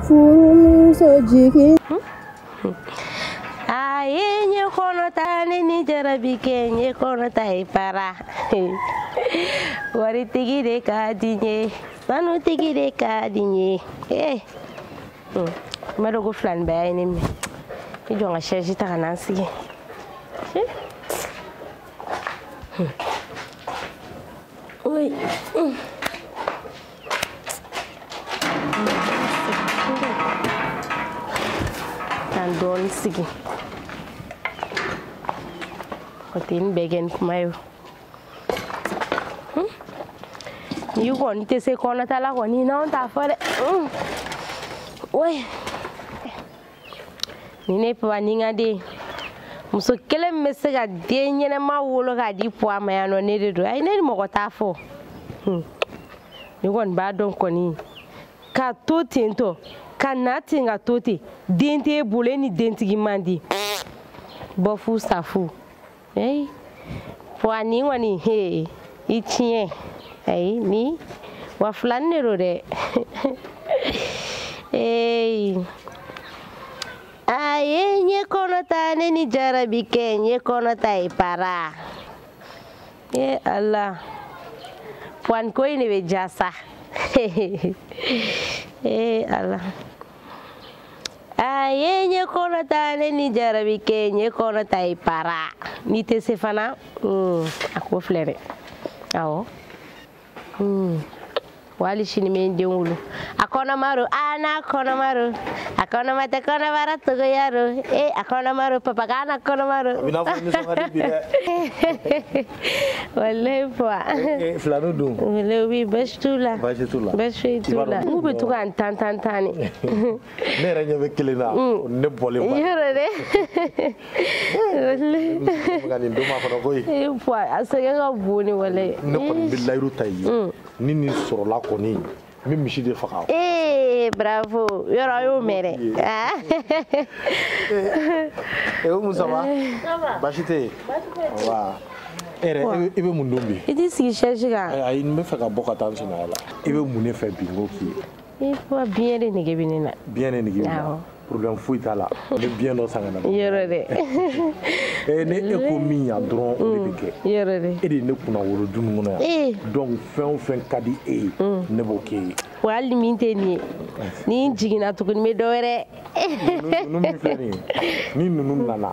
furumuso jigin a ye n ye kɔnɔ ta ne ni jarabi kɛ n ye kɔnɔ ta ye para waritigi de ka di n ye sanutigi de ka di n ye ee n b'a dɔn ko filanibaya ye ne minɛ i jɔ n ka sɛzi ta ka na n sigi Oui. K'an dɔɔni sigi o tɛ ni bɛɛ kɛ ni kuma ye o hun n'i kɔni tɛ se kɔnɔta la kɔni n'anw t'a fɔ dɛ hun oyi ni ne papa ni n ka denmuso kelen bɛ se ka den ɲɛnama wolo k'a di puwa ma yan o ne de don ayi ne ni mɔgɔ t'a fɔ ne kɔni b'a dɔn kɔni ka to ten tɔ ka na ten ka to ten den t'e bolo e ni dentigi man di bɔ fu sa fu Hey, wa ni kɔni he i tiɲɛ ayi nin wa filanin de don dɛ ee a ye n ye kɔnɔ ta ne ni jarabi kɛ n ye kɔnɔ ta ye para e ala puwa ni ko in de bɛ ja sa ee ala a ye n ye kɔnɔ ta ne ni jarabi kɛ n ye kɔnɔ ta ye para n'i tɛ se fana hmm, a ko filɛ dɛ awɔ hmm, walayi sini n bɛ n den wolo a kɔnɔma don a n'a kɔnɔma don a kɔnɔma tɛ kɔnɔbara togoya don e a kɔnɔma don papa ka na kɔnɔma don. a bɛ i n'a fɔ nisɔn ka di bi dɛ. walayi fa eh, eh, filani dun walayi oui basi t'u la basi t'u la basi foyi t'u la u bɛ to ka n tan tan tan ne ne yɛrɛ ɲɛ bɛ kelen na mm. ne bɔlen ba yɔrɔ dɛ walayi ka nin don ma kɔnɔ koyi ee fa a sɛgɛn ka bon ni walayi ne kɔni bɛ layidu ta i ye mm. ni nin sɔrɔla kɔni n bɛ misi de faga ee bravo yɔrɔ y'o mɛn dɛ ee o musa wa baasi tɛ yen wa e yɛrɛ i bɛ mun dun bi i t'i sigi sɛzi kan ayi n bɛ fɛ ka bɔ ka taa n sinaya la i bɛ mun de fɛ bi n k'o k'i ye i ko biyɛn de nege bɛ ne na biyɛn de nege bɛ ne na problème foyi t'a la ne biɲɛ dɔ san ka na yɔrɔ dɛ ee ne e ko min yan dɔrɔn o de bɛ kɛ yɔrɔ dɛ e de ye ne kunnawolo du ninnu kɔnɔ yan donc fɛn o fɛn ka di e ye ne b'o k'e ye wa hali min tɛ nin ye ni n jiginna tuguni n bɛ dɔ wɛrɛ ninnu min filɛ nin ye ni ninnu nana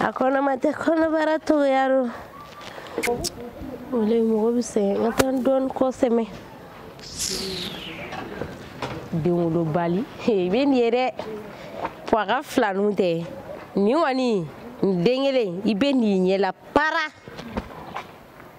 a kɔnɔma tɛ kɔnɔbara togoya do walayi mɔgɔ bɛ sɛgɛn nka a t'a dɔn kosɛbɛ denwolobali i bɛ nin ye dɛ fo a ka filaninw tɛ nin kɔni nin den kelen i bɛ nin ɲɛla para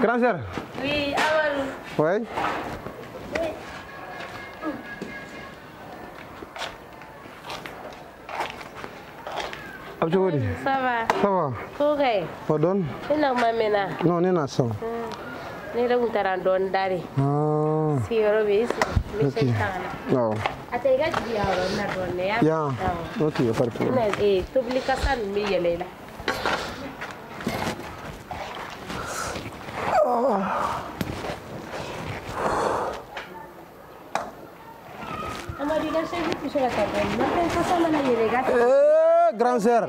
Grand sœur. Oui, Amadu. Oui. Oui. a bɛ cogo di. ça va. ça va. OK. pardon. e na kuma mɛnna. non ne nana sisan. ne yɛrɛ tun taara dɔɔni dari. Ah. sigiyɔrɔ bɛ yen. ok awɔ. a tɛ i ka sigiyɔrɔ na dɔrɔn ne y'a yan n'o tun ye fari fɔlɔ tobili kasa ninnu bɛ yɛlɛ i la Amadu i ka sɛsi tɛ se ka taa dɔɔni nafɛn kasa mana yɛlɛ i kan grand sœur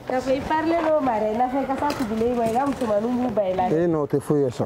k'a fɔ i parilen n'o ma dɛ nafɛn kasa tugulen i ma i ka musomaninw b'u ban i la ee non o tɛ foyi ye sa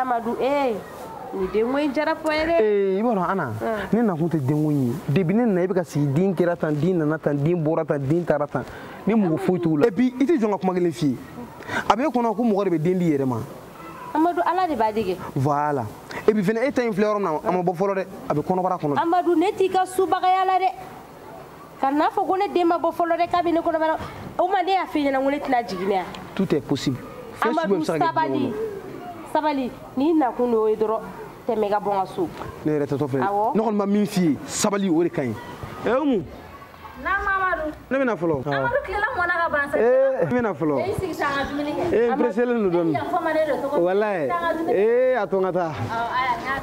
amadu ee nin denko in jara fɔ ye dɛ ee i b'a dɔn ana ne nakun tɛ denko in ye depi ne nana i bɛ ka sigi den kɛra tan den nana tan den bɔra tan den taara tan ne mako foyi t'o la et puis i tɛ jɔ n ka kuma kelen f'i ye a bɛ e kɔnɔ ko mɔgɔ de bɛ den d'i yɛrɛ ma amadu ala de b'a di kɛ voilà et puis fana e ta in filɛ yɔrɔ min na a ma bɔ fɔlɔ dɛ a bɛ kɔnɔbara kɔnɔ amadu ne t'i ka subagaya la dɛ kan'a fɔ ko ne den ma bɔ fɔlɔ dɛ k'a bɛ ne kɔnɔbara o maa de y'a f'i ɲɛna ko ne tɛna jigin ne ya tout est possible amadu sabali sabali n'i nakun de y'o ye dɔrɔn tɛmɛ ka bɔ n ka so ne yɛrɛ taatɔ filɛ awɔ ne kɔni bɛ min f'i ye sabali o de ka ɲi ɛ umu naam amadu ne bɛ na fɔlɔ amadu tilela mɔna ka ban sa ee ne bɛ na fɔlɔ e sigi sa an ka dumuni kɛ ee n pereselen don dɔɔni walayi ee a to n ka taa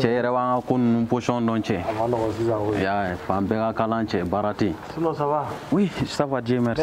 cɛ e yɛrɛ b'an ka ko ninnu position dɔn cɛ yan fan bɛɛ ka kalan cɛ baara tɛ yen oui ça va dieu merci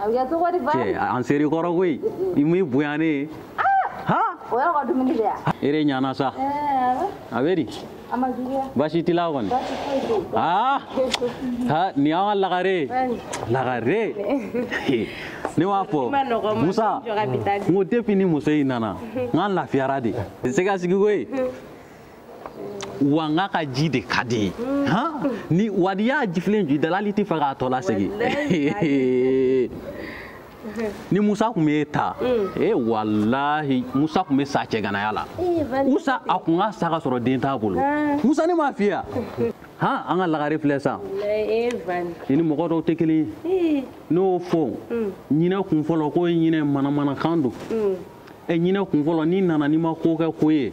a bɛ kɛ cogo di ba cɛ an ser'i kɔrɔ koyi i m'i bonya ne ye ha o yɔrɔ ka dumuni de yan e de ɲana sa a bɛ di a ma juguya baasi t'i la kɔni baasi foyi tɛ yen aa ha nin y'an ka lagare ye lagare ne b'a fɔ musa n ko depuis ni muso in nana n k'an lafiyara dɛ se k'i sigi koyi wa n k'a ka ji de ka di ye ni wa n'i y'a jifilen ju i da la hali tɛ fɛ k'a tɔ lasegin ni musa kun ma e ta mm. e walahi musa kun bɛ sa cɛganaya la musa a kun ka sa ka sɔrɔ den t'a bolo musa ne m'a f'i ye han an ka lagare filɛ sa i ni mɔgɔ dɔw tɛ kelen ye n'o fɔ mm. ɲinɛ kun fɔlɔ k'o ye ɲinɛ manamanakan don mm. ɛ ɲinɛ kun fɔlɔ n'i nana n'i ma ko kɛ ko ye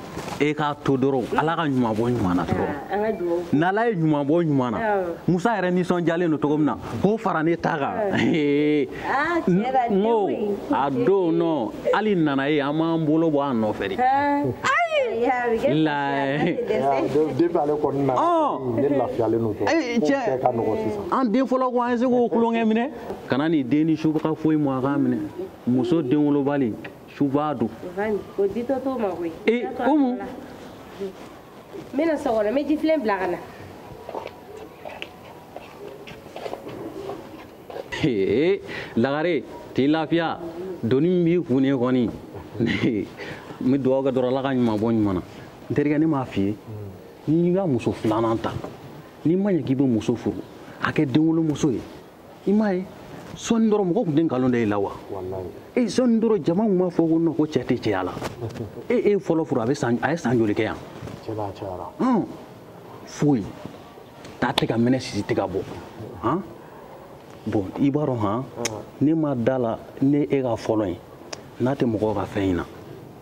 e k'a to dɔrɔn mm. ala ka ɲuman bɔ ɲuman na dɔrɔn ah, n'ala ye ɲuman bɔ ɲuman na musa yɛrɛ nisɔndiyalen don cogo min na k'o fara ne ta kan ah, n ko a don nɔ hali nana ye an m'an bolo bɔ a nɔfɛ dɛ an den fɔlɔ ko an ye se k'o tulonkɛ minɛ kana nin den ni suba ka foyi mɔ a k'a minɛ muso den wolobali suba don o ditɔ t'o ma koyi ee umu n bɛna so kɔnɔ n bɛ jifilen bila ka na ee lagare t'i lafiya doni min b'i kun ne kɔni n bɛ dugawu kɛ dɔrɔn ala ka ɲuman bɔ ɲuman na n terikɛ ne m'a f'i ye n'i ka muso filanan ta n'i ma ɲɛ k'i bɛ muso furu a kɛ denwolomuso ye i m'a ye sɔɔni dɔrɔn mɔgɔ kun tɛ nkalon da i la wa e sɔɔni dɔrɔn jama kun b'a fɔ ko nɔ ko cɛ tɛ cɛya la e e fɔlɔ furu a bɛ san a ye san joli kɛ yan foyi ta tɛ ka mɛnɛ sisi tɛ ka bɔ han bon i b'a dɔn han ne ma da la ne e ka fɔlɔ ye n'a tɛ mɔgɔw ka fɛn in na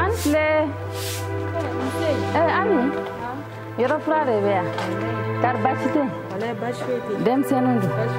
an filɛ ami yɔrɔ furan de bɛ yan kari baasi tɛ denmisɛnninw don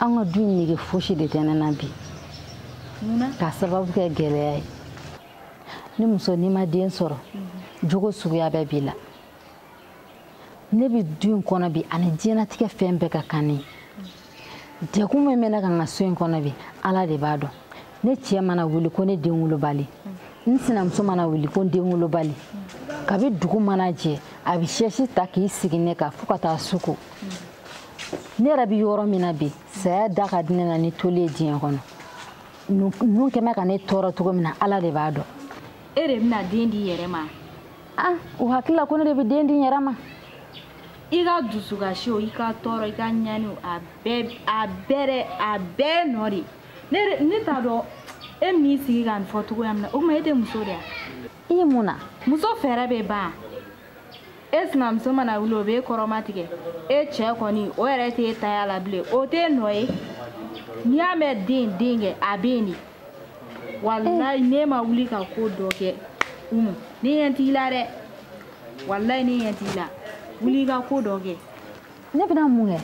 an ka du in nege fosi de tɛ ne na bi k'a sababu kɛ gɛlɛya ye ni muso n'i ma den sɔrɔ mhm. jogo suguya bɛɛ b'i la ne bɛ du in kɔnɔ bi ani diɲɛlatigɛ fɛn bɛɛ ka kan ne ye degun min bɛ ne kan n ka so in kɔnɔ bi ala de b'a dɔn ne cɛ mana wuli ko ne den wolobali n sinamuso mana wuli ko n den wolobali kabi dugu mana jɛ a bɛ sɛsi ta k'i sigi ne kan fo ka taa su ko ne yɛrɛ bɛ yɔrɔ min na bi saya da ka di ne na ni toli ye diɲɛ kɔnɔ ninnu kɛ mɛ ka ne tɔɔrɔ cogo min na ala de b'a dɔn e de bɛna den di i yɛrɛ ma ah o hakili la ko ne de bɛ den di n yɛrɛ ma i ka dusukasi o i ka tɔɔrɔ i ka ɲani o a bɛɛ a bɛɛ dɛ a bɛɛ nɔ de ne ne t'a dɔn e bɛn'i sigi ka nin fɔ cogoya min na o tuma e tɛ muso de ye wa i ye mun na muso fɛɛrɛ bɛ ban e sinamuso mana wuli o b'e kɔrɔmatigɛ e cɛ kɔni o yɛrɛ t'e taya la bilen o t'e nɔ ye n'i y'a mɛn den denkɛ a bɛ yen de walayi n'e ma wuli ka ko dɔ kɛ umu ne ɲɛ t'i la dɛ walayi ne ɲɛ t'i la wuli i ka ko dɔ kɛ ne bɛna mun kɛ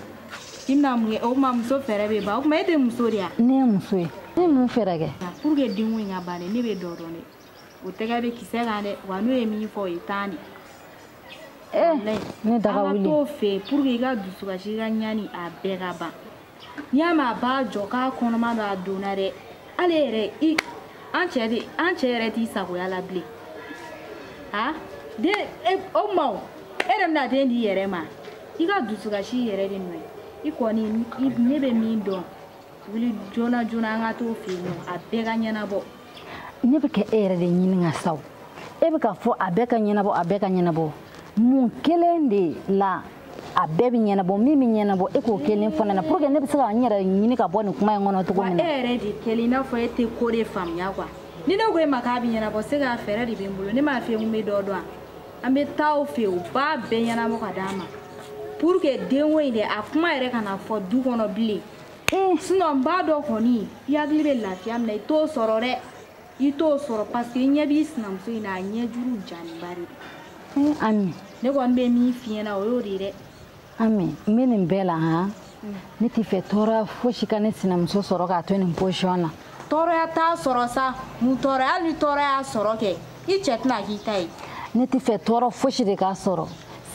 i bɛna mun kɛ o tuma muso fɛɛrɛ bɛ ban o tuma e tɛ muso de ye wa ne ye muso ye ne ye mun fɛɛrɛ kɛ pour que denko in ka ban de ne bɛ dɔ dɔn dɛ o tɛgɛ bɛ kisɛ kan dɛ wa n'o ye min fɔ o ye tan de eh, ne daga wuli an ka t'o fɛ yen pour que i ka dusukasi i ka ɲani a bɛɛ ka ban n'i y'a mɛn a b'a jɔ k'a kɔnɔma don a donna dɛ ale yɛrɛ i an cɛ de an cɛ yɛrɛ t'i sagoya la bilen a den e, o ma o e yɛrɛ bɛna den di i yɛrɛ ma i ka dusukasi yɛrɛ de nɔ ye i kɔni ne bɛ min dɔn wuli joona joona an ka t'o fɛ yen nɔ a bɛɛ ka ɲɛnabɔ ne bɛ ka e yɛrɛ de ɲininka sa e bɛ k'a fɔ a bɛɛ ka ɲɛnabɔ a bɛɛ ka ɲɛnabɔ mun kelen de la a bɛɛ bɛ ɲɛnabɔ min bɛ ɲɛnabɔ e k'o kelen fɔ ne na pour que ne bɛ se ka n yɛrɛ ɲini ka bɔ nin kuma in kɔnɔ cogo min na. wa e yɛrɛ de kɛlen i n'a fɔ e tɛ ko de faamuya quoi ni ne ko e ma k'a bɛ ɲɛnabɔ c'est que a fɛɛrɛ de bɛ n bolo ne m'a f'i ye n ko n bɛ dɔ dɔn an bɛ taa o fɛ yen u b'a bɛɛ ɲɛnabɔ ka d'a ma pour que denko in dɛ a kuma yɛrɛ kana fɔ du kɔnɔ bilen. sinon n b'a dɔn kɔni i hakili bɛ lafiya min na i t'o sɔrɔ dɛ i t'o sɔrɔ parce que i ɲɛ b'i sinamuso in na a ɲɛ juru janiba de don ami ne kɔni bɛ min f'i ɲɛna o y'o de ye dɛ ami n bɛ nin bɛɛ la han ne tɛ fɛ tɔɔrɔya fosi ka ne sinamuso sɔrɔ k'a to nin position na tɔɔrɔya t'a sɔrɔ sa mun tɔɔrɔya hali ni tɔɔrɔ y'a sɔrɔ kɛ i cɛ tɛna k'i ta ye ne tɛ fɛ tɔɔrɔ fosi de k'a sɔrɔ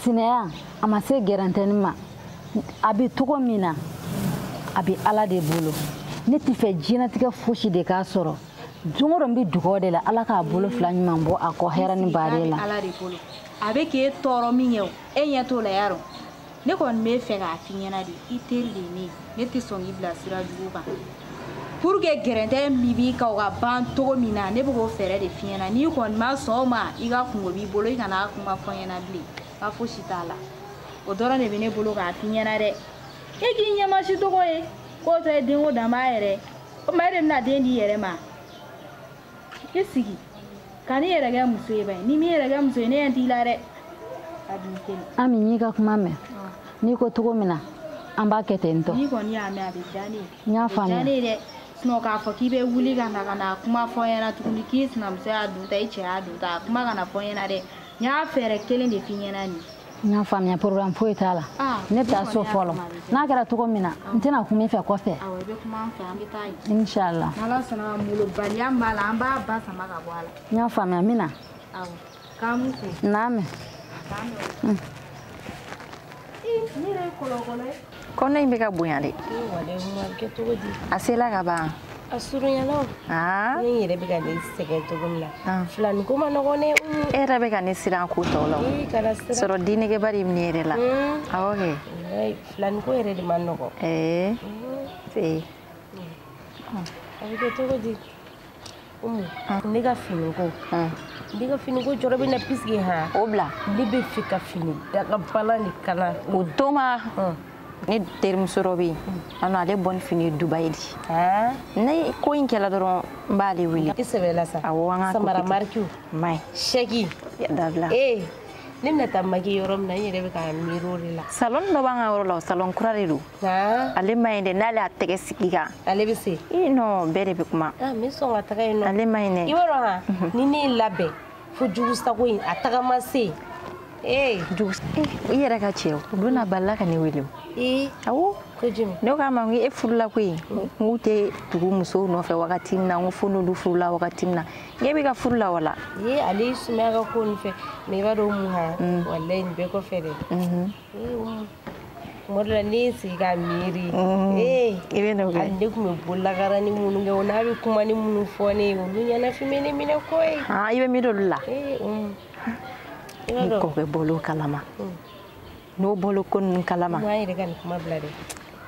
sinaya a ma se gɛrɛntɛni ma a bɛ cogo min na a bɛ ala de bolo ne tɛ fɛ diɲɛnatigɛ fosi de k'a sɔrɔ don o don n bɛ dugawu de la ala k'a bolo fila ɲuman bɔ a kɔ hɛrɛ ni baden la a bɛ k'e tɔɔrɔ min kɛ o e ɲɛ t'o la yarɔ ne kɔni bɛ fɛ k'a f'i ɲɛna de i teri de ye ne ye ne tɛ sɔn k'i bila sira jugu kan pour que gɛrɛntɛ min b'i kan o ka ban cogo min na ne bɛ k'o fɛɛrɛ de f'i ɲɛna n'i kɔni ma sɔn o ma i ka kungo b'i bolo i kana a kuma fɔ n ɲɛna bilen n ka fosi t'a la o dɔrɔn de bɛ ne bolo k'a f'i ɲɛna dɛ e k'i ɲɛmasi tɔgɔ ye k'o tɛ denko dan b'a yɛrɛ o tuma e de bɛna den di i yɛrɛ ma i sigi ka n'i yɛrɛ kɛ muso ye ba ye n'i m'i yɛrɛ kɛ muso ye ne ɲɛ t'i la dɛ a dun kelen Ami n y'i ka kuma mɛn n'i ko cogo min na an b'a kɛ ten tɔ n'i kɔni y'a mɛn a bɛ diya ne ye n'i y'a faamuya a bɛ diya ne ye dɛ sinɔn k'a fɔ k'i bɛ wuli ka na ka na kuma fɔ n ɲɛna tuguni k'i sinamuso y'a dun ta i cɛ y'a dun ta a kuma kana fɔ n ɲɛna dɛ n y'a fɛɛrɛ kelen de f'i ɲɛna nin n y'a faamuya problème foyi t'a la ah, ne bɛ taa so fɔlɔ n'a kɛra cogo min na ah. n tɛna kum'i fɛ kɔfɛ inshallah n y'a faamuya min na n'a mɛn kɔnɔ in bɛ ka bonya dɛ a sela ka ban a surunyana ah. ne yɛrɛ bɛ ka ne sɛgɛn cogo min na ah. filani ko ma nɔgɔn dɛ e yɛrɛ bɛ ka ne siran ko tɔw la sɔrɔ dennegeba de bɛ ne yɛrɛ la hmm. awɔ kɛ filani ko yɛrɛ de ma nɔgɔn ee eh. hmm. a bɛ kɛ cogo di ne ka finiko ne ka finiko jɔrɔ bɛ n na pisike han o bila ne b'a fɛ ka fini dakabana de kala o tuma ne terimuso dɔ bɛ yen a nɔ ale bɔ ni fini dubayi de ne ko in kɛla dɔrɔn n b'ale wele i sɛbɛla sa awɔ an ka samara marikiw maɲi sɛki dabila ee ne bɛna taa maki yɔrɔ min na n yɛrɛ bɛ ka miiri o de la salɔn dɔ b'an ka yɔrɔ la o salɔn kura de don ale ma ɲi dɛ n'ale y'a tɛgɛ sig'i kan ale bɛ se i nɔ bɛɛ de bɛ kuma ah, n bɛ sɔn ka taga yen nɔ ale ma ɲi dɛ i b'a dɔn han ni ne ye labɛn fo jugu sago in a tagama se yen ee jugu i yɛrɛ ka cɛ o don na balala ka ne wele o ee awɔ ne k'a ma ko e furula koyi n k'u tɛ tugu musow nɔfɛ wagati min na n ko fo n'olu furula wagati min na e bɛ ka furu la walayi ale y'i sumaya ka ko nin fɛ mɛ i b'a dɔn mun ha walayi nin bɛɛ kɔfɛ dɛ tuma dɔ la ne ye sigi ka miiri i bɛ n'o kɛ hali ne tun bɛ bololakara ni minnu kɛ o n'a bɛ kumanin minnu fɔ ne ye olu ɲɛnafin bɛ ne minɛ koyi i bɛ miiri olu la ni kɔkɛ bɔl'o kalama n'o bɔl'o ko ninnu kalama an yɛrɛ ka nin kuma bila dɛ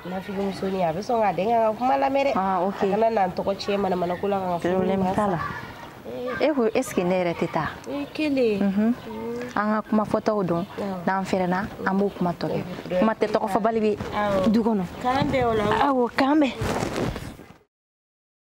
nafigimusonin a bɛ sɔn ka dɛn k'an ka kuma lamɛn dɛ ah, a kana n'an tɔgɔ tiɲɛ manamana ko la ka ka problème t'a la e ko est ce que ne yɛrɛ tɛ taa kelen mhm. an ka kuma fɔtaw dɔn n'an fɛrɛna an b'o kuma tɔ kɛ kuma tɛ tɔgɔ fɔbali bɛ du kɔnɔ awɔ k'an bɛn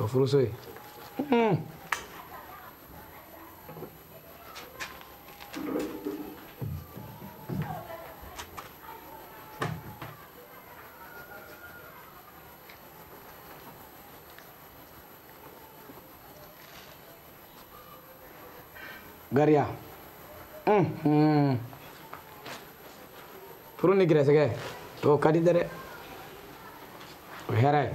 o furuso ye gariya unhun furu ni gɛrɛsɛgɛ o ka di dɛrɛ o hɛrɛ ye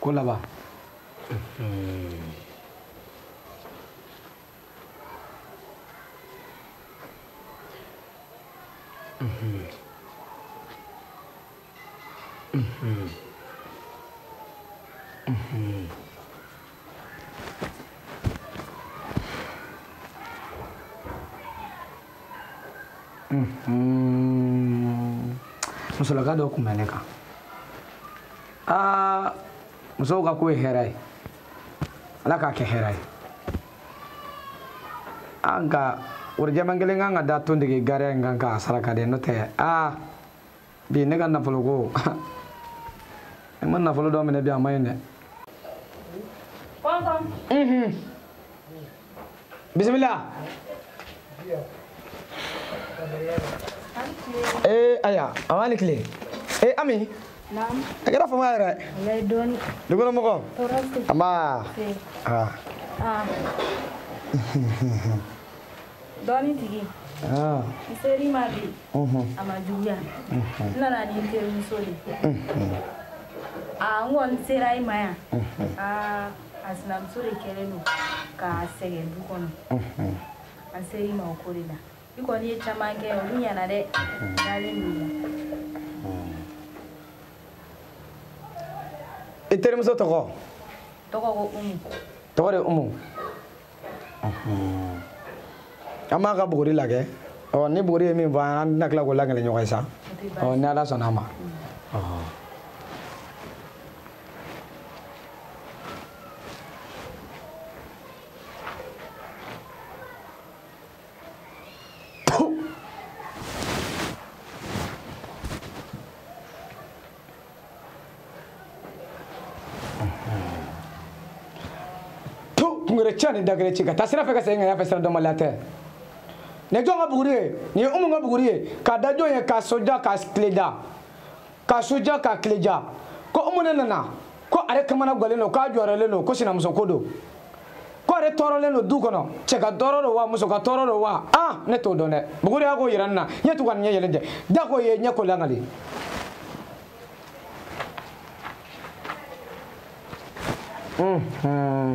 ko laban musolaka dɔ kun bɛ ne kan aa musow ka ko ye hɛrɛ ye ala k'a kɛ hɛrɛ ye a nka worojɛman kelen kan ka da tontigi gariya in kan k'a saraka dɛ n'o tɛ aa bi ne ka nafolo ko ne ma nafolo dɔ minɛ bi a ma ɲi dɛ bisimila ee aya a b'a ni tile ee ami a kɛra fama yɛrɛ dukɔnɔmɔgɔ anba dɔɔnin tigi ah. n ser'i ma bi a ma juguya n nana ni n terimuso de n kɔni sera i ma yan a sinamuso de kɛlen don k'a sɛgɛn du kɔnɔ an ser'i ma o ko de la i kɔni ye caman kɛ olu ɲɛna dɛ dalen don i la i terimuso tɔgɔ tɔgɔ ko umu tɔgɔ de umu an b'a ka buguri lagɛ ɔ ni buguri ye min fɔ an bɛna tila k'o lagɛlɛ ɲɔgɔn ye sa ɔ ni ala sɔnna a ma to kungere ca ni dagere ci ka taa sira fɛ ka segin ka y'a fɛ sira dɔnbaliya tɛ nin ye jɔn ka buguri ye nin ye umu ka buguri ye k'a da jɔn ye k'a su diya k'a tile diya k'a su diya k'a tile diya ko umu ne nana ko ale kamanagwannen don k'a jɔɔrɔlen don ko sinamusoko don ko ale tɔɔrɔlen don du kɔnɔ cɛ ka tɔɔrɔ don wa muso ka tɔɔrɔ don wa a ne t'o dɔn dɛ buguri y'a ko yira n na ɲɛ tugu ani ɲɛ yɛlɛ dɛ da ko ye ɲɛ ko lakali Mm-hmm.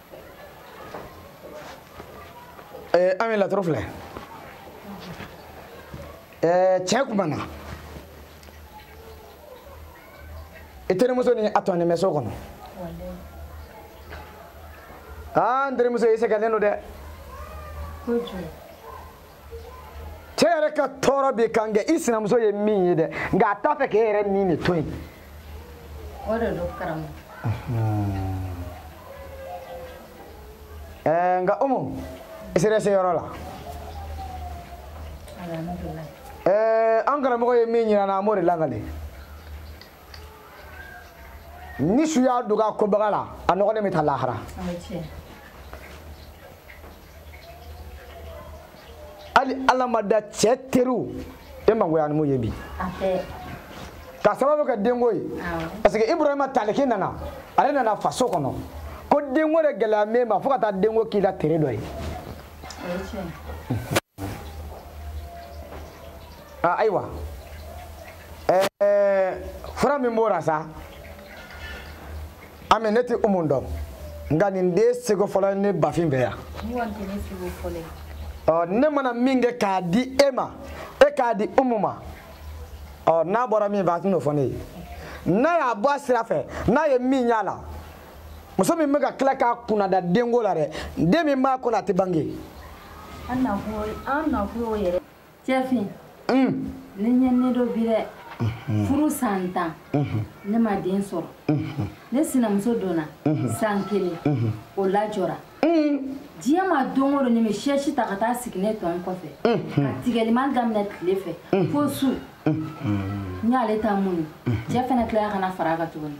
ee ami laturu filɛ ee tiɲɛ kumana i terimuso ni a tɔnin bɛ so kɔnɔ aa n terimuso i sɛgɛnnen don dɛ cɛ yɛrɛ ka tɔɔrɔ b'i kan kɛ i sinamuso ye min ye dɛ nka a t'a fɛ k'e yɛrɛ min de to yen o de don karamɔgɔ ɛɛ nka umu i sera se yɔrɔ la ɛɛ an karamɔgɔ ye min jira an na an b'o de lakali ni su y'a dogo a kobaga la a nɔgɔlen bɛ taa lahara hali ala ma da cɛ teriw e mangoyanen min ye bi k'a sababu kɛ denko ye parce que ibrahima taliki nana ale nana faso kɔnɔ ko denko de gɛlɛya b'e ma fo ka taa denko k'i la tere dɔ ye ah, ayiwa ɛɛ eh, fura min b'o la sa ami ne tɛ umu dɔn nka nin de ye seko fɔlɔ ye ne bafin fɛ yan ɔ ne mana min kɛ k'a di e ma e k'a di umu ma ɔ n'a bɔra min fɛ a tɛn'o fɔ ne ye n'a y'a bɔ a sira fɛ n'a ye min y'a la muso min bɛ ka tila k'a kunnada denko la dɛ den min b'a kɔnɔ a tɛ bange. an nakun y'o yɛrɛ cɛfin ne ɲɛninen don bi dɛ furu san tan ne ma den sɔrɔ ne sinamuso donna san kelen o lajɔra diɲɛ ma don o don nin bɛ sɛsi ta ka taa sigi ne tɔn kɔfɛ ka tigɛliman daminɛ tile fɛ fo su n y'ale ta mun cɛ fana tilala ka na fara a kan tuguni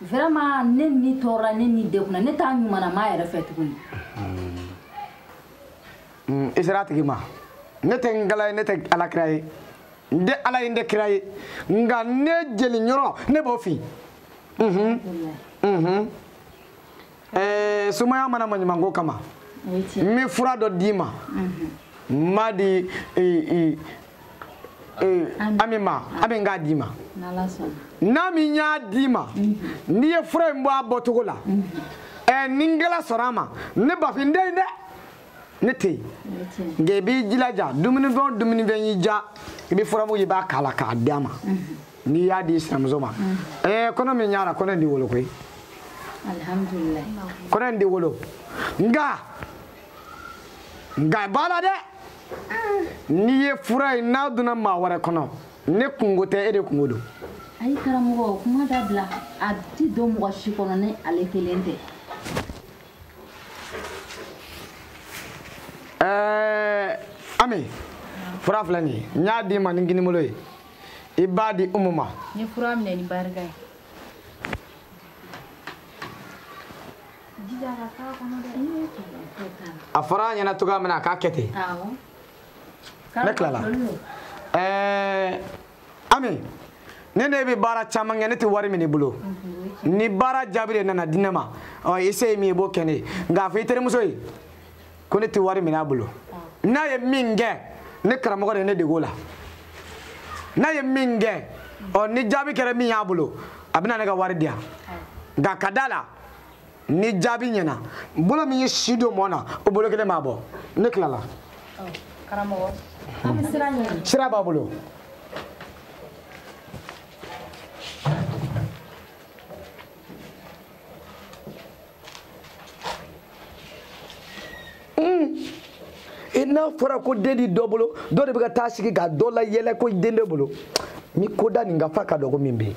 vraiment ne ni tɔɔrɔla ne ni degunna ne t'a ɲumanama yɛrɛ fɛ tuguni mm, i sera a tigi ma ne tɛ ngala ye ne tɛ ala kira ye n tɛ ala ye n tɛ kira ye nka ne jeli ɲɔrɔ ne b'o fin mhm, mhm. Eh, somaya ma na maɲumanko kama n bɛ fura dɔ d'i ma mhm. n b'a di ami eh, ma ami ah. k'a d'i ma n'ami y'a d'i ma mm-hmm. n'i ye fura in bɔ a bɔcogo la mm-hmm. eh, ni ngala sɔnna a ma ne bafin den dɛ ne tɛ yen nka i b'i jilaja dumunifɛn o dumunifɛn y'i diya i bɛ furamugu i b'a k'a la k'a d'a ma n'i y'a di sinamuso ma ɛɛ kɔnɔ min y'a la kɔnɔ in tɛ wolo koyi kɔnɔ in tɛ wolo nka nka b'a la dɛ n'i ye fura in n'a donna maa wɛrɛ kɔnɔ ne kunko tɛ e de kunko don. ayi karamɔgɔ kuma dabila a ti don mɔgɔ si kɔnɔ ni ale kelen tɛ. ɛɛ ami fura filɛ nin ye n y'a d'i ma ni kinibolo ye i b'a di umu ma. n ye fura minɛ ni barika ye. a fɔra a ɲɛna cogoya min na a k'a kɛ ten ne tilala ɛɛ ami ne ne bɛ baara caman kɛ ne tɛ wari min'i bolo ni baara jaabi de nana di ne ma ɔ i se ye min ye i b'o kɛ ne ye nka a fɔ i terimuso ye ko ne tɛ wari minɛ a bolo n'a ye min kɛ ne karamɔgɔ de ye ne dege o la n'a ye min kɛ ɔ ni jaabi kɛra min y'a bolo a bɛna ne ka wari di yan nka ka d'a la ni jaabi ɲɛna bolo min ye si don mɔni na o bolo kelen b'a bɔ ne tilala sira b'a bolo n'a fɔra ko den ti dɔ bolo dɔ de bɛ ka taa sigi ka dɔ la yɛlɛ ko den t'e bolo ni ko da nin ka fa ka dɔgɔ min bɛ yen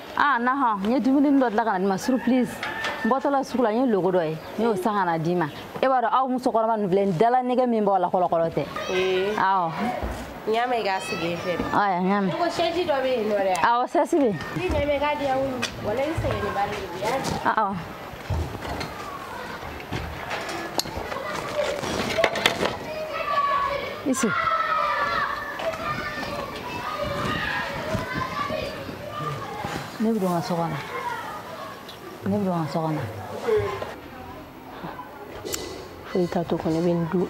aa nahɔ n ye dumuni dɔ dilan ka na d'i ma surprise n bɔtɔla sugu la n ye loko dɔ ye n y'o san ka na d'i ma e b'a dɔn aw musokɔrɔba ninnu filɛ dala nege min b'aw la kɔlɔkɔlɔ tɛ awɔ n y'a mɛn i k'a sigi e fɛ de aya n y'a mɛn ko sɛji dɔ bɛ yen nɔ dɛ awɔ sɛsi bɛ yen i ɲɛ bɛ k'a diya wulu walayi sɛgɛn ni bari de bi awɔ Ici. Ne bɛ don n ka so kɔnɔ. Ne bɛ don n ka so kɔnɔ. Foyi t'a to kɔnɔ, i bɛ n dun.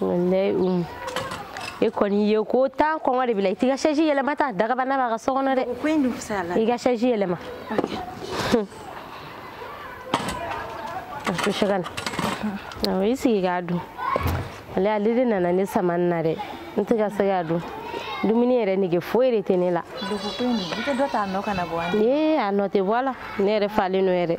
walayi umu e kɔni ye ko tan kɔngɔ de b'i la i t'i ka sɛji yɛlɛma ta dagabana b'a ka so kɔnɔ dɛ i ka sɛji yɛlɛma to sɛgɛ na awɔ i sigi k'a dun ale ale de nana ne sama n na dɛ n tɛ ka se k'a dun dumuni yɛrɛ nege foyi de tɛ ne la ee a nɔ tɛ bɔ a la ne yɛrɛ falen don yɛrɛ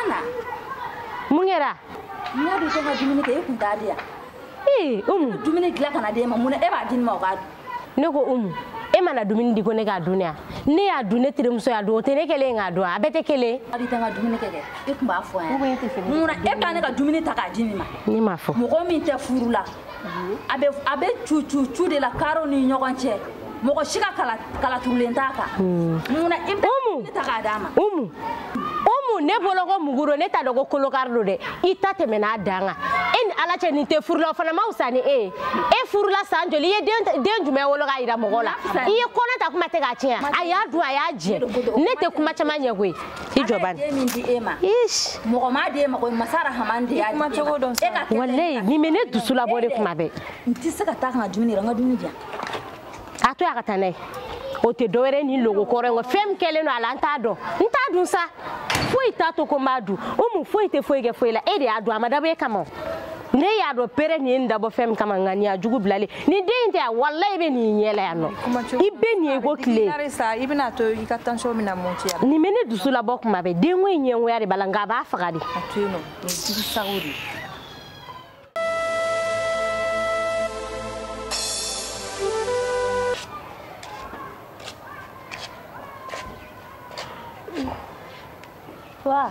Ana. Mun kɛra? N y'a dɔn i tɛ ka dumuni kɛ e kun t'a di yan. Ee Umu. Dumuni dilan ka na d'e ma mun na e b'a di nin ma o k'a dun? Ne ko Umu e mana dumuni di ko ne k'a dun yan ne y'a dun ne terimuso y'a dun o tɛ ne kɛlen ye k'a dun a bɛɛ tɛ kelen ye. a bɛ taa n ka dumuni kɛ kɛ e tun b'a fɔ yan. mun na e bɛ ne ka dumuni ta k'a di nin ma. ne m'a fɔ. mɔgɔ min tɛ furu la a bɛ a bɛ cu cu cu de la karew ni ɲɔgɔn cɛ mɔgɔ si ka kala turulen t'a kan. Hmm. munna i bɛ ne ta k'a d'a ma. umu umu ne bolo ko mugu don ne t'a dɔn ko kolokari don dɛ i ta tɛmɛna a dan kan e ni ala cɛ nin tɛ furula o fana ma fisa ni e ye e furula san joli i ye den jumɛn wolo k'a jira mɔgɔw la i ye kɔnɔ ta kuma tɛ k'a tiɲɛ a y'a dun a y'a jɛ ne tɛ kuma caman ɲɛ koyi. i jɔ bani walayi nin bɛ ne dusu labɔ de kuma bɛɛ n tɛ se ka taa ka na dumuni yɛrɛ n ka dumuni di yan a to yan ka taa n'a ye o tɛ dɔwɛrɛ ni logo kɔrɔ in kɔ fɛn min kɛlen don a la n t'a dɔn n t'a dun sa foyi t'a to ko n b'a dun umu foyi tɛ foyi kɛ foyi la e de y'a dun a ma dabɔ e kama o ne y'a dɔn pere nin ye nin dabɔ fɛn min kama nka nin y'a jugu bilalen ni den in tɛ yan wala i bɛ nin ɲɛ la yan nɔ i bɛ nin ye ko tile nin bɛ ne dusu labɔ kuma bɛɛ denko in ɲɛngoya de b'a la nka a b'a faga de Wow.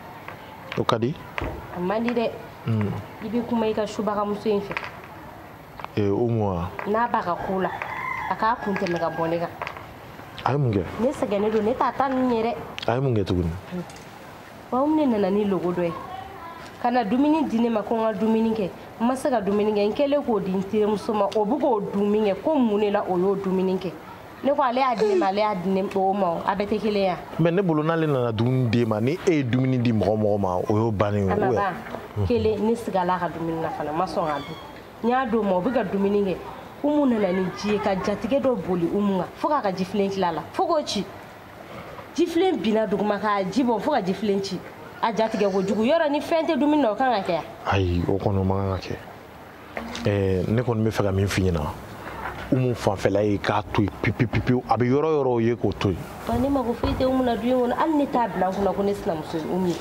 o ka di a man di dɛ i bɛ kuma i ka subagamuso in fɛ ee umu wa n'a b'a ka ko la a k'a kun tɛmɛ ka bɔ ne kan a ye mun kɛ ne sɛgɛnnen don ne t'a ta ninnu ye dɛ a ye mun kɛ tuguni wa umu de nana ni logo dɔ ye ka na dumuni di ne ma ko n ka dumuni kɛ n ma se ka dumuni kɛ n kɛlen k'o di n terimuso ma o bɛ k'o dun min kɛ ko mun de la o y'o dumuni kɛ ne ko ale y'a di ne ma ale y'a di ne o ma a bɛɛ tɛ kelen ye mais ne bolo n'ale nana dumuni d'e ma ni e ye dumuni di mɔgɔ mɔgɔ ma o y'o bannen ye a ma ban kelen ne sigala a ka dumuni na fana ma sɔn k'a dun n y'a d'o ma o bɛ ka dumuni kɛ umu nana ni ji ye ka jatigɛ dɔ boli umu kan fo k'a ka jifilen tila la fo k'o ci jifilen binna duguma k'a ji bɔn fo ka jifilen ci a jatigɛ ko jugu yɔrɔ ni fɛn tɛ dumuni na o kan ka kɛ ayi o kɔni o man kan ka kɛ eh, ne kɔni b'a fɛ ka min f'i ɲɛna umu fanfɛla ye k'a to yen pipipipiw a bɛ yɔrɔ yɔrɔw ye k'o to yen ne mago foyi tɛ umu na du in kɔnɔ hali ne t'a bila n kunna ko ne sinamuso ye umu ye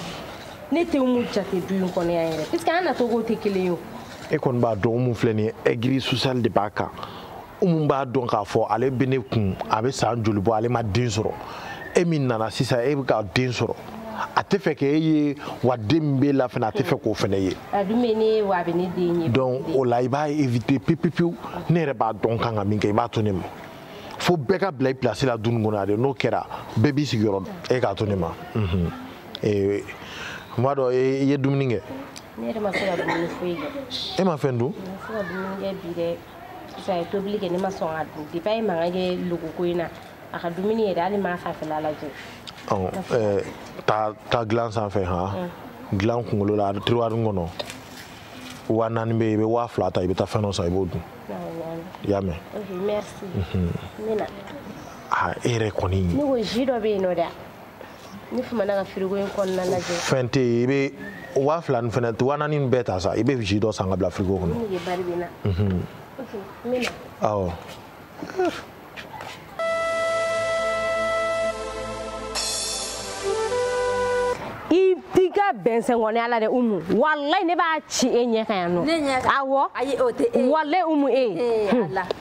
ne tɛ umu jate du in kɔnɔ yan yɛrɛ puisque an nacogow tɛ kelen ye o e kɔni b'a dɔn umu filɛ nin ye aigri social de b'a kan umu b'a dɔn k'a fɔ ale bɛ ne kun a bɛ san joli bɔ ale ma den sɔrɔ e min nana sisan e bɛ ka den sɔrɔ a tɛ fɛ k'e ye wa den min b'e la fana a tɛ fɛ k'o fana ye donc o la i b'a éviter pepepewu ne yɛrɛ b'a dɔn n kan ka min kɛ i b'a to ne ma fo bɛɛ ka bila i place la du nin kɔnɔ yan de n'o kɛra bɛɛ b'i sigiyɔrɔ dɔn e k'a to ne ma n b'a dɔn i ye dumuni kɛ e ma fɛn dun sisan ye tobili kɛ ne ma sɔn ka dun depi a ye mankan kɛ lɔgɔkun in na a ka dumuni yɛrɛ hali n m'a fanfɛla lajɛ taa taa dilan sanfɛ han dilan kunkolo la tiroir kɔnɔ waa naani bɛ yen i bɛ waa fila ta i bɛ taa fɛn dɔ san i b'o dun i y'a mɛn e yɛrɛ kɔni ne ko ji dɔ bɛ yen nɔ dɛ ni fumana ka firigo in kɔnɔna lajɛ fɛn tɛ yen i bɛ waa fila nin fɛnɛ ta waa naani nin bɛɛ ta sa i bɛ ji dɔ san ka bila firigo kɔnɔ awɔ i ka bɛn sɛngɔnɛ ala dɛ umu walayi ne b'a ci e ɲɛ kan yan nɔ awɔ walayi umu e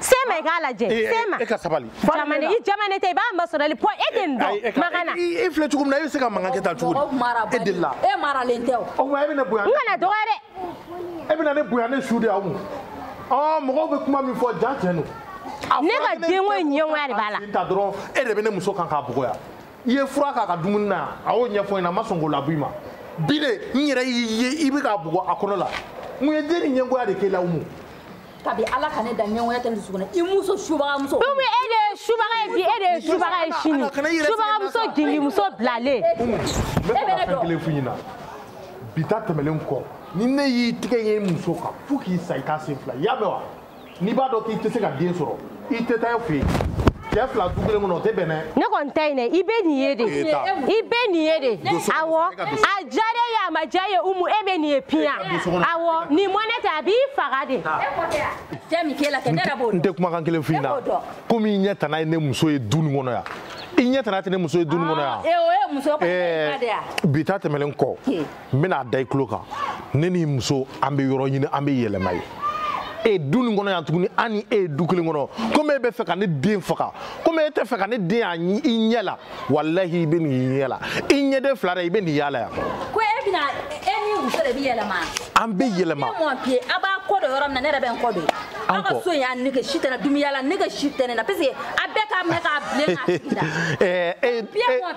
sema i k'a lajɛ sema e ka sabali jamane i jamane tɛ i b'a masɔrɔli pɔ e tɛ nin dɔn makan na i filɛ cogo min na e bɛ se ka mankan kɛ tan cogo di e delila e maralen tɛ o o tuma e bɛ ne bonya n kana dɔgɔya dɛ e bɛ na ne bonya ne su de awɔ mɔgɔw bɛ kuma min fɔ jaa tiɲɛ don ne ka denko ɲɛngoya de b'a la tan dɔrɔn e de bɛ ne muso kan k'a bugɔ yan i ye fura k'a ka dumuni na yan a y'o ɲɛfɔ n ɲɛna a ma sɔn k'o labɔ i ma bi de n yɛrɛ y'i ye i bɛ k'a bugɔ a kɔnɔ la mun ye den nin ɲɛngoya de k'e la umu kabi ala ka ne da ɲɛngoya tɛ n dusukun na i muso subagamuso umu e de ye subaga ye bi e de ye subaga ye sini subagamuso gingimuso bilalen n bɛna fɛn kelen f'i ɲɛna bi ta tɛmɛlen kɔ ni ne y'i tigɛ ye n muso kan fo k'i sa i k'a sen fila i y'a mɛn wa n'i b'a dɔn k'i tɛ se ka den sɔrɔ i tɛ taa fɛ yen cɛ fila du kelen kɔnɔ o tɛ bɛn dɛ. ne kɔni ta in dɛ i bɛ nin ye de i bɛ nin ye de awɔ a diyara e ye a ma diya e ye umu e bɛ nin ye piya awɔ nin mɔnɛ tɛ a b'i faga de. n tɛ kumakan kelen f'i ɲɛna komi i ɲɛ tana ye ne muso ye du nin kɔnɔ yan i ɲɛ tana tɛ ne muso ye du nin kɔnɔ yan bi ta tɛmɛlen kɔ n bɛn'a da i tulo kan ne ni muso an bɛ yɔrɔ ɲini an bɛ yɛlɛma ye e du nin kɔnɔ yan tuguni an ni e ye du kelen kɔnɔ komi e bɛ fɛ ka ne den faga komi e tɛ fɛ ka ne den ye i ɲɛ la walahi i bɛ nin y'i ɲɛ la i ɲɛden fila dɛ i bɛ nin y'a la yan. ko e bɛna e n'i muso de bɛ yɛlɛma. an bɛ yɛlɛma. ne mɔn piye a b'a kɔ don yɔrɔ min na ne yɛrɛ bɛ n kɔ don. aw ka so in y'a nege si tɛ n na dumuni yala nege si tɛ ne na parce que a bɛɛ k'a minɛ k'a bilen k'a sigi la. ɛɛ e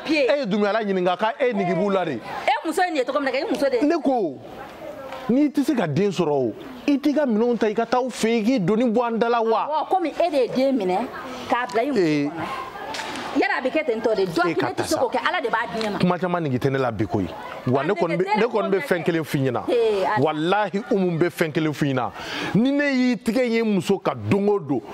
ye e ye dumuni yala ɲininka k'a e nege b'u la de. e muso ye nin ye tɔgɔ min na kɛ i muso de ne ko n'i tɛ se ka den sɔrɔ o i t'i ka minɛnw ta i ka taa aw fɛ yen k'i doni bɔ an da la wa. awɔ komi e de ye den minɛ k'a bila i muso kɔnɔ yala a bɛ kɛ ten tɔ de dɔn kelen tɛ se k'o kɛ ala de b'a di ne ma. kuma caman nege tɛ ne la bi koyi wa ne kɔni bɛ fɛn kelen f'i ɲɛna walahi umu bɛ fɛn kelen f'i ɲɛna ni ne y'i tigɛ ye muso kan don o don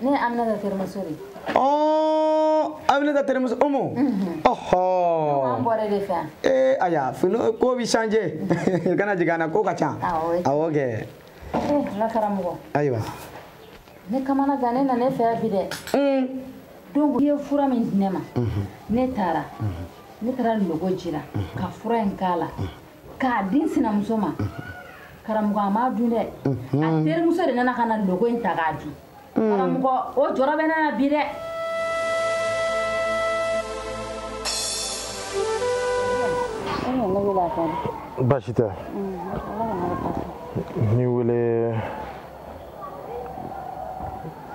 ne aminata terimuso de ɔɔ aminata terimuso umu ɔhɔ an bɔra de fɛ ee aya fini ko bi changer i kana jigin an na ko ka ca awɔ kɛ n ka karamɔgɔ ayiwa ne kamana gannen nana e fɛ yan bi dɛ donc i ye fura min di ne ma ne taara ne taara logo jiran ka fura in k'a la k'a di n sinamuso ma karamɔgɔ a m'a dun dɛ a terimuso de nana ka na logo in ta k'a dun karamɔgɔ o jɔrɔ bɛ ne na bi dɛ baasi tɛ n'i wele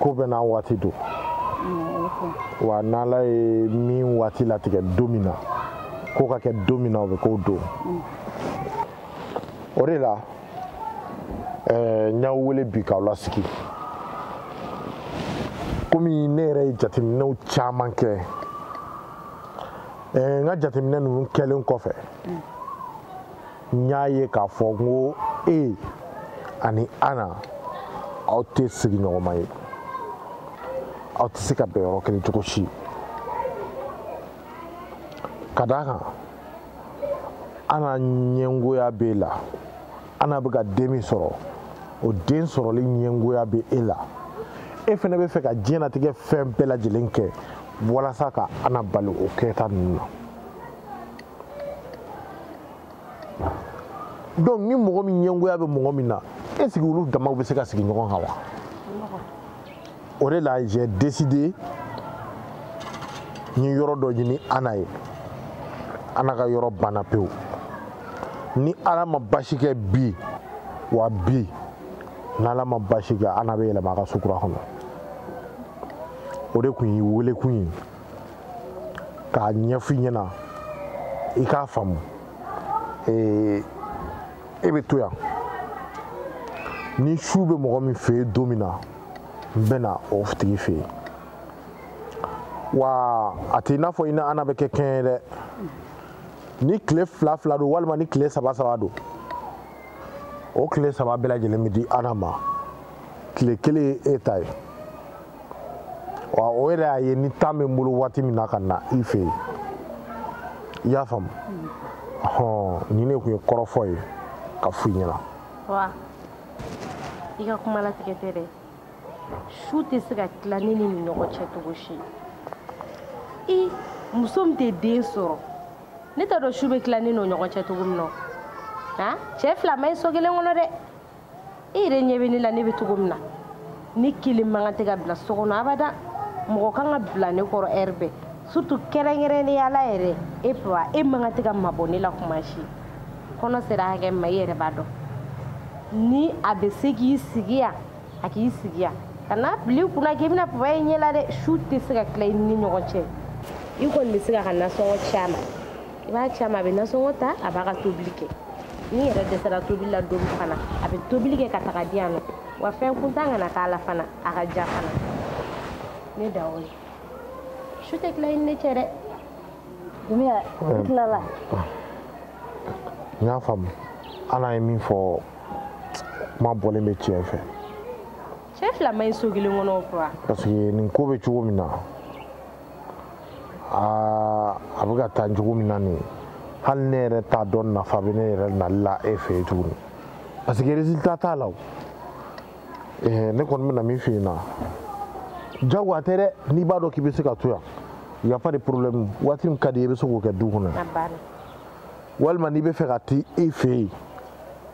ko bɛɛ n'a waati don wa n'ala ye min waati latigɛ don min na ko ka kɛ don min na o bɛ k'o don o de la eh, n y'aw wele bi k'aw lasigi komi ne yɛrɛ ye jateminɛw caman kɛ eh, n ka jateminɛ ninnu kɛlen kɔfɛ n y'a ye k'a fɔ n ko e ani ana aw tɛ sigiɲɔgɔnma ye aw tɛ se ka bɛn yɔrɔ kelen cogo si ka d'a kan ana ɲɛngoya b'e la ana bɛ ka den min sɔrɔ o den sɔrɔli ɲɛngoya bɛ e la e fana bɛ fɛ ka diɲɛnatigɛ fɛn bɛɛ lajɛlen kɛ walasa ka ana bali o kɛta ninnu na donc ni mɔgɔ min ɲɛngoya bɛ mɔgɔ min na est ce que olu damaw bɛ se ka sigi ɲɔgɔn kan wa o de la j'ai décidé n ye yɔrɔ dɔ ɲini ana ye ana ka yɔrɔ banna pewu ni ala ma baasi kɛ bi wa bi n'ala ma baasi kɛ ana bɛ yɛlɛma a ka sokura kɔnɔ o de tun ye welekun ye k'a ɲɛfɔ i ɲɛna i k'a faamu ee e bɛ to yan ni su bɛ mɔgɔ min fɛ yen don min na n bɛ na o tigi fɛ yen wa a tɛ i n'a fɔ i ni ana bɛ kɛ kɛɲɛ ye dɛ ni tile fila fila don walima ni tile saba saba don o tile saba bɛɛ lajɛlen bɛ di ana ma tile kelen ye e ta ye. wa o yɛrɛ y'a ye ni temps bɛ n bolo waati min na ka na i fɛ yen i y'a faamu hɔn nin de tun ye kɔrɔfɔ ye ka f'i ɲɛna. wa i ka kuma latigɛ tɛ dɛ su tɛ se ka tila ne ni nin ɲɔgɔn cɛ cogo si i muso min tɛ den sɔrɔ ne t'a dɔn su bɛ tila ne n'o ɲɔgɔn cɛ cogo min na han cɛ fila ma ɲi so kelen kɔnɔ dɛ. e yɛrɛ ɲɛ bɛ ne la ne bɛ cogo min na ne kelen man kan tɛ ka bila so kɔnɔ abada mɔgɔ kan ka bila ne kɔrɔ heure bɛɛ surtout kɛrɛnkɛrɛnnenya la yɛrɛ e papa e man kan tɛ ka mabɔ ne la kuma si kɔnɔ sera hakɛ ma i yɛrɛ b'a dɔn ni a bɛ se k'i sigi yan a k'i sigi yan kan'a bila i kunna k'i bɛna papa ye ɲɛ la dɛ su tɛ se ka tila i ni ɲɔgɔn cɛ i kɔni bɛ se k'a ka nasɔngɔ ci a ma i b'a ci a ma a bɛ nasɔngɔ ta a b'a ka tobili kɛ n'i yɛrɛ dɛsɛra tobili la don fana a bɛ tobili kɛ ka taga di yan nɔ wa fɛn kuntan kana k'a la fana a ka ja fana ne da o ye su tɛ tila i ni ne cɛ dɛ dumbuya n tilala n y'a faamu ana ye min fɔ kuma bɔlen bɛ tiɲɛ fɛ cɛ fila ma ɲi so kelen kɔnɔ o kura parce que nin ko bɛ cogo min na aa a bɛ ka taa cogo min na nin hali ne yɛrɛ t'a dɔn nafa bɛ ne yɛrɛ nali la e fɛ yen tuguni parce que résultat t'a la o eh, ne kɔni bɛna min f'i ɲɛna jagoya tɛ dɛ n'i b'a dɔn k'i bɛ se ka to yan y a pas de problème waati min ka d'i ye i bɛ se k'o kɛ du kɔnɔ walima n'i bɛ fɛ ka t'i fɛ yen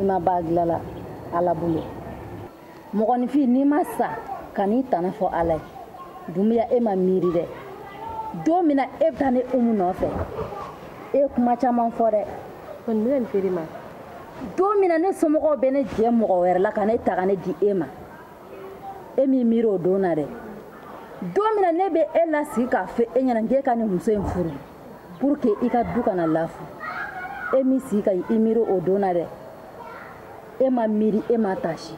i ma ban dila la ala bolo mɔgɔninfin n'i ma sa kan'i tana fɔ ala ye dumbuya e ma miiri dɛ don min na e bɛ taa ne umu nɔfɛ e ye kuma caman fɔ dɛ kɔni bɛ nin feere ma don min na ne somɔgɔw bɛ ne jɛ mɔgɔ wɛrɛ la ka ne ta ka ne di e ma e m'i miiri o don na dɛ don min na ne bɛ e lasigi k'a fɔ e ɲɛna k'e ka nin muso in furu pour que i ka du kana lafu e m'i sigi ka i miiri o don na dɛ e ma miiri e ma tasi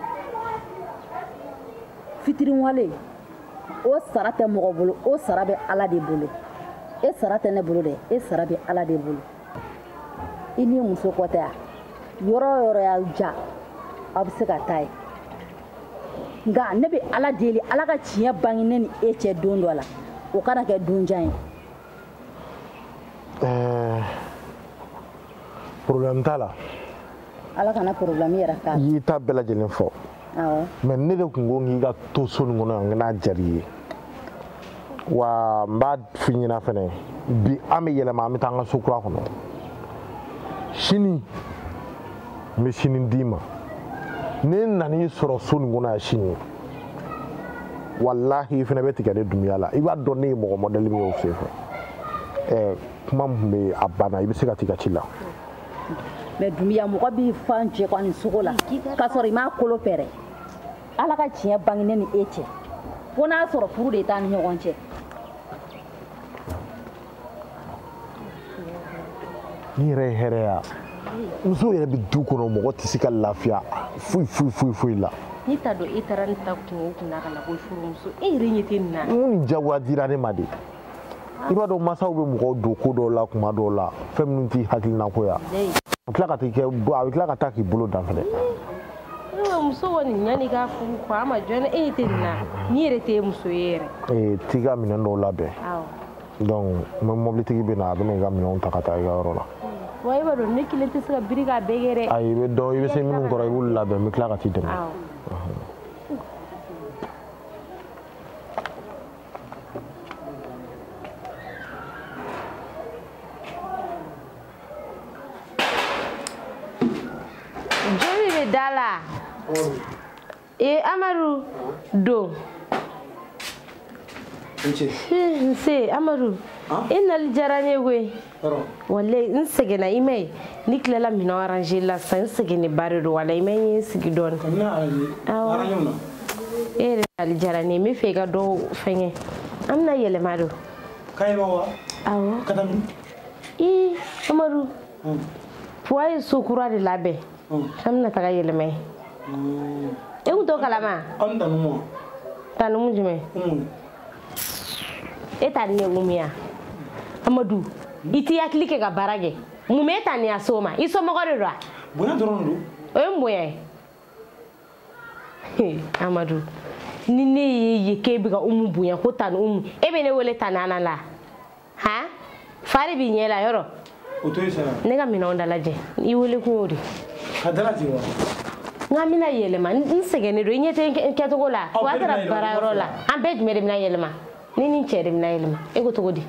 fitiriwale o sara tɛ mɔgɔ bolo o sara bɛ ala de bolo e sara tɛ ne bolo dɛ e sara bɛ ala de bolo i ni muso kɔtɛ ya yɔrɔ o yɔrɔ y'a ja aw bɛ se ka taa yen nka ne bɛ ala deli ala ka tiɲɛ bange ne ni e cɛ don dɔ la o kana kɛ don jan ye eh, problème t'a la ala kana problème yɛrɛ k'a la i y'i ta bɛɛ lajɛlen fɔ awɔ mais ne de tun ko k'i ka to so nin kɔnɔ yan nka n'a jar'i ye wa n b'a f'i ɲɛna fɛnɛ bi an bɛ yɛlɛma an bɛ taa an ka so kura kɔnɔ sini n bɛ sini d'i ma ni n nan'i sɔrɔ so nin kɔnɔ yan sini walahi i fana bɛ tigɛ ne dunuya la i b'a dɔn ne ye mɔgɔ mɔdɛli min ye o senfɛ ɛɛ kuma min bɛ a banna i bɛ se ka t'i ka ci la mɛ dunuya mɔgɔ b'i fa jɛgɛnin sogo la k'a sɔrɔ i m'a kolo pɛrɛ ala ka tiɲɛ bange ne ni e cɛ fo n'a sɔrɔ furu de t'an ni ɲɔgɔn cɛ ni yɛrɛ ye hɛrɛya muso yɛrɛ bɛ du kɔnɔ mɔgɔ tɛ se ka lafiya foyi foyi foyi foyi la ne t'a dɔn e taara ne ta kungo kun na ka na ko furumuso e yɛrɛ ɲɛ tɛ nin na mun ni jagoya dira ne ma de i b'a dɔn mansaw bɛ mɔgɔw don ko dɔw la kuma dɔw la fɛn minnu t'i hakilinako ya a bɛ tila ka taa kɛ a bɛ tila ka taa k'i bolo dan fɛnɛ muso kɔni ɲani k'a furu kɔ a ma jɔn e tɛ nin na n'i yɛrɛ tɛ muso ye yɛrɛ ee t'i ka minɛn dɔw labɛn donc n bɛ mɔbilitigi bɛ na a bɛ na i ka minɛnw ta ka taa i ka yɔrɔ la wa e b'a dɔn ne kelen tɛ se ka biri k'a bɛɛ kɛ dɛ ayi i bɛ dɔn i bɛ se minnu kɔrɔ i b'olu labɛn n bɛ tila ka t'i dɛmɛ joli bɛ da la ee amadu don nse amadu i nali diyara ne ye koyi walayi n sɛgɛnna i m'a ye ne tilala minɛn aranze la sisan n sɛgɛnnenba de don walayi i m'a ye n sigi dɔɔni e yɛrɛ nali diyara ne ye n bɛ fɛ i ka dɔ fɛngɛ an bɛna yɛlɛma don awɔ ii amadu buwa ye so kura de labɛn an bɛna taga yɛlɛma yen e kun t'o kalama an tani umu tani umu jumɛn e tani ye umu ya amadu i t'i hakili kɛ ka baara kɛ mun bɛ e tani a so ma i somɔgɔ de don wa bonya dɔrɔn de don o ye mun bonya ye amadu ni ne y'a ye k'e bɛ ka umu bonya ko tani umu e bɛ ne wele tani ana la han fa de b'i ɲɛ la yɔrɔ o to yen sa na ne ka minɛnw dalajɛ i wele kun y'o de ka dalajɛ wa n k'an bɛna yɛlɛma n sɛgɛnnen don i ɲɛ tɛ n kɛcogo la buwa taara baara yɔrɔ la an bɛɛ jumɛn de bɛna yɛlɛma ne ni n cɛ de bɛna yɛlɛma e ko cogo di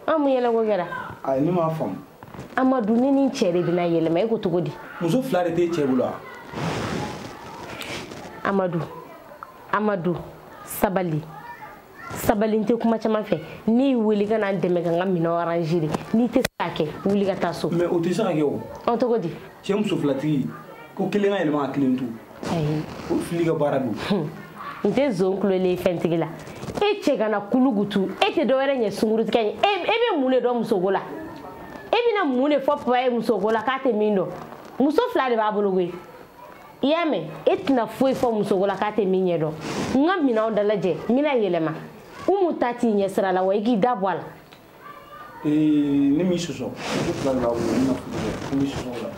an mun yɛlɛko kɛra ayi ne m'a faamu amadu ne ni n cɛ de bɛna yɛlɛma e ko cogo di muso fila de t'e cɛ bolo wa amadu amadu sabali sabali n tɛ kuma caman fɛ ne y'i wele ka na n dɛmɛ ka n ka minɛn aranze de n'i tɛ se k'a kɛ wuli ka taa so mɛ o tɛ se ka kɛ o ɔ cogo di cɛ muso filatigi ko kelen ka yɛlɛma ka kelen to ayi o fili ka baara don n tɛ zon kulelen fɛntigi la e cɛ kana kulugutu e tɛ dɔwɛrɛ ɲɛ sungurutigɛ ye e bɛ mun de dɔn musoko la e bɛna mun de fɔ papa ye musoko la k'a tɛ min dɔn muso fila de b'a bolo koyi i y'a mɛn e tɛna foyi fɔ musoko la k'a tɛ min ɲɛ dɔn n ka minɛnw dalajɛ n bɛna yɛlɛma umu ta t'i ɲɛ sira la wa i k'i da bɔ a la Ee, ne m'i sɔsɔ muso fila de b'a bolo ne ma furu kɛ ne m'i sɔsɔ o la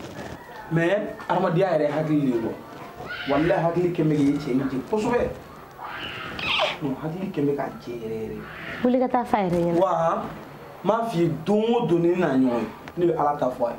mɛ hadamadenya yɛrɛ hakili de ye bɔ walahi hakili kɛmɛ k'i cɛ in jɛ kosɛbɛ non hakili kɛmɛ k'a jɛ yɛrɛ yɛrɛ wuli ka taa f'a yɛrɛ ɲɛna wa n b'a f'i ye don o don ni ne n'a ɲɔgɔn ye ne bɛ ala ta fɔ a ye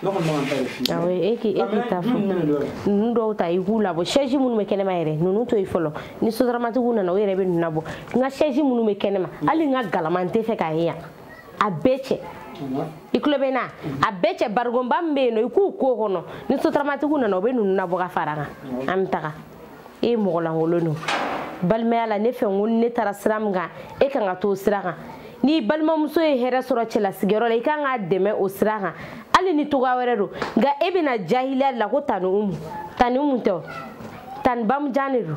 e k'i ta fɔ ninnu dɔw ta i k'u labɔ sɛji minnu bɛ kɛnɛma yɛrɛ ninnu to yen fɔlɔ ni sotaramatigiw nana o yɛrɛ bɛ ninnu labɔ n ka sɛji minnu bɛ kɛnɛma hali n ka galama n tɛ fɛ k'a ye yan a bɛɛ cɛ i tulo bɛ n na a bɛɛ cɛ barigonba min bɛ yen nɔ i k'u k'o kɔnɔ ni sotaramatigiw nana o bɛ ninnu labɔ ka fara an kan an bɛ taga e ye mɔgɔ lankolon don balimaya la ne fɛ n ko ne taara sira min kan e kan ka t'o sira kan ni balimamuso ye hɛrɛ sɔrɔ cɛlasigiyɔrɔ la i kan k'a dɛmɛ o sira kan hali ni cogoya wɛrɛ don nka e bɛna jahiliya de la ko tani umu tani umu tɛ o tani bamujan de don